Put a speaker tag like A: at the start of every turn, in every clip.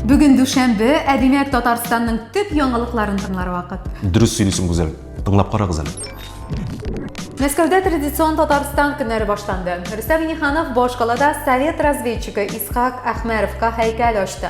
A: Бүген дүшәмбе, ә димәк Татарстанның төп яңалыкларын тыңлар вакыт. Дөрес сөйлисең, Гүзәл. Тыңлап карагыз әле. Мәскәүдә традицион Татарстан көннәре башланды. Рөстәм Миниханов башкалада совет разведчигы Исхак Әхмәровка һәйкәл ачты.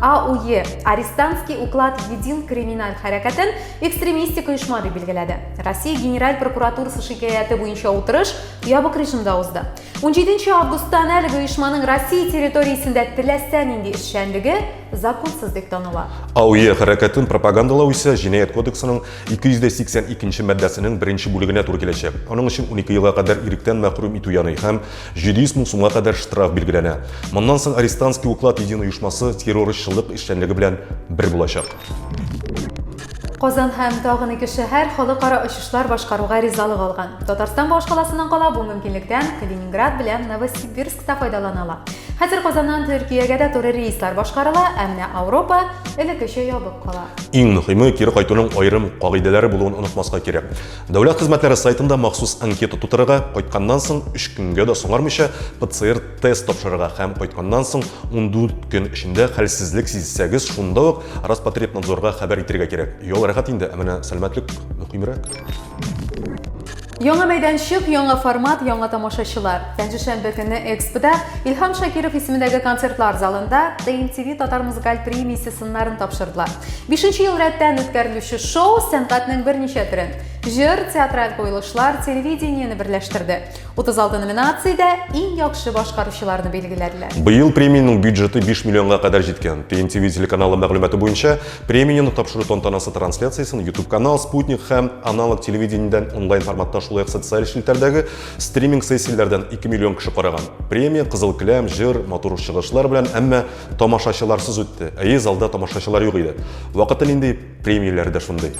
A: АУЕ, Арестантский уклад един криминаль хәрәкәтен экстремистик оешма дип билгеләде. Россия Генераль прокуратурасы шикаяте буенча утырыш ябык режимда узды. 17 августтан әлеге оешманың Россия территориясендә теләсә нинди эшчәнлеге законсыз дип таныла. АУЕ хәрәкәтен пропагандалау исә җинаять кодексының 282 маддәсенең беренче бүлегенә туры киләчәк. Аның өчен 12 елга кадәр иректән мәхрүм итү яный һәм 700 мең сумга кадәр штраф билгеләнә. Моннан соң Арестантский уклад един оешмасы террорчылык эшчәнлеге белән бер булачак. Казан һәм тагын ике шәһәр халыкара очышлар башкаруга ризалык алган. Татарстан башкаласының кала бу мөмкинлектән Калининград белән Новосибирск та файдалана ала. Хәзер Казаннан Төркиягә дә туры рейслар башкарыла, әмма Ауропа элеккечә ябык кала. Иң мөһиме, кире кайтуның аерым кагыйдәләре булуын онытмаска кирәк. Дәүләт хезмәтләре сайтында махсус анкета тутырырга, кайтканнан соң 3 көнгә дә соңармыйча ПЦР-тест тапшырырга һәм кайтканнан соң 14 көн эчендә хәлсезлек сизсәгез, шунда ук Роспотребнадзорга хәбәр итергә кирәк. Ял рәхәт инде, ә менә сәламәтлек мөһимрәк. Яңа мәйданчык, яңа формат, яңа тамашачылар. Пәнҗешәмбе көнне Экспода, Илһам Шакиров исемендәге концертлар залында, TMTV Татар музыкаль премиясе сыннарын тапшырдылар. Бишенче ел рәттән үткәрелүче шоу сәнгатьнең берничә төрен, җыр, театраль куелышлар, телевидениене берләштерде. 36 номинациядә иң яхшы башкаручыларны билгеләделәр. Быел премиянең бюджеты 5 миллионга кадәр җиткән. TNTV телеканалы мәгълүматы буенча, премияне тапшыру тантанасы трансляциясен YouTube-канал, Sputnik һәм аналог телевидениедән онлайн форматта шулай ук социаль челтәрдәге стриминг сессияләрдән 2 миллион кеше караган. Премия Кызыл келәм, җыр, матур чыгышлар белән, әмма Тамашачыларсыз үтте. Әйе, залда тамашачылар юк иде. Вакыты нинди, премияләре дә шундый.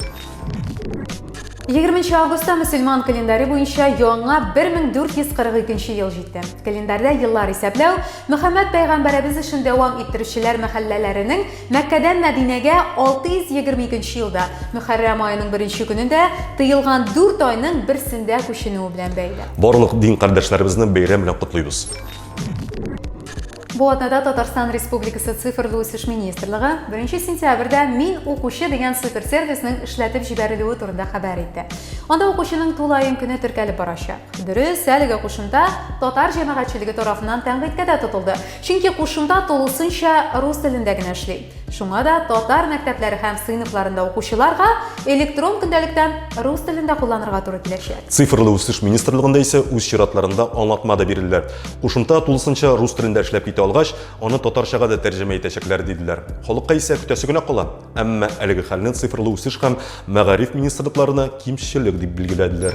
A: 20 августта мөселман календаре буенча яңа 1442 ел җитте. Календарьдә еллар исәпләү Мөхәммәд пәйгамбәребез эшен дәвам иттерүчеләр мәхәлләләренең Мәккәдән Мәдинәгә 622 елда Мөхәррәм аеның беренче көнендә тыелган 4 айның берсендә күченүе белән бәйле. Барлык дин кардәшләребезне бәйрәм белән котлыйбыз. Бу атнада Татарстан Республикасы цифрлы үсеш министрлыгы 1 сентябрьдә Мин укучы дигән суперсервисның эшләтеп җибәрелүе турында хәбәр итте. Анда укучының тулаем көне теркәлеп барачак. Дөрес, әлеге кушымта татар җәмәгатьчелеге тарафыннан тәнкыйтькә дә тотылды, чөнки кушымта тулысынча рус телендә генә эшли. Шуңа да татар мәктәпләре һәм сыйныфларында укучыларга электрон көндәлектән рус телендә кулланырга туры киләчәк. Цифрлы үсеш министрлыгында исә үз чиратларында аңлатма да бирделәр. Кушымта тулысынча рус телендә эшләп китә алгач, аны татарчага да тәрҗемә итәчәкләр, диделәр. Халыкка исә көтәсе генә кала. Әмма әлеге хәлне Цифрлы үсеш һәм Мәгариф министрлыкларына кимчелек дип билгеләделәр.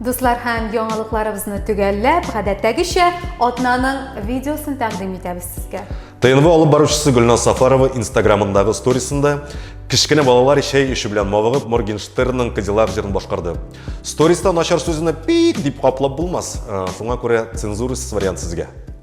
A: Дуслар һәм яңалыкларыбызны төгәлләп, гадәттәгечә, атнаның видеосын тәкъдим итәбез сезгә. ТНВ алып баручысы Гөлназ Сафарова инстаграмындагы сторисында кечкенә балалар чәй эчү белән мавыгып Моргенштернның Кадиллак җырын башкарды. Сториста начар сүзне пик дип каплап булмас, э, шуңа күрә цензурасыз вариант сезгә.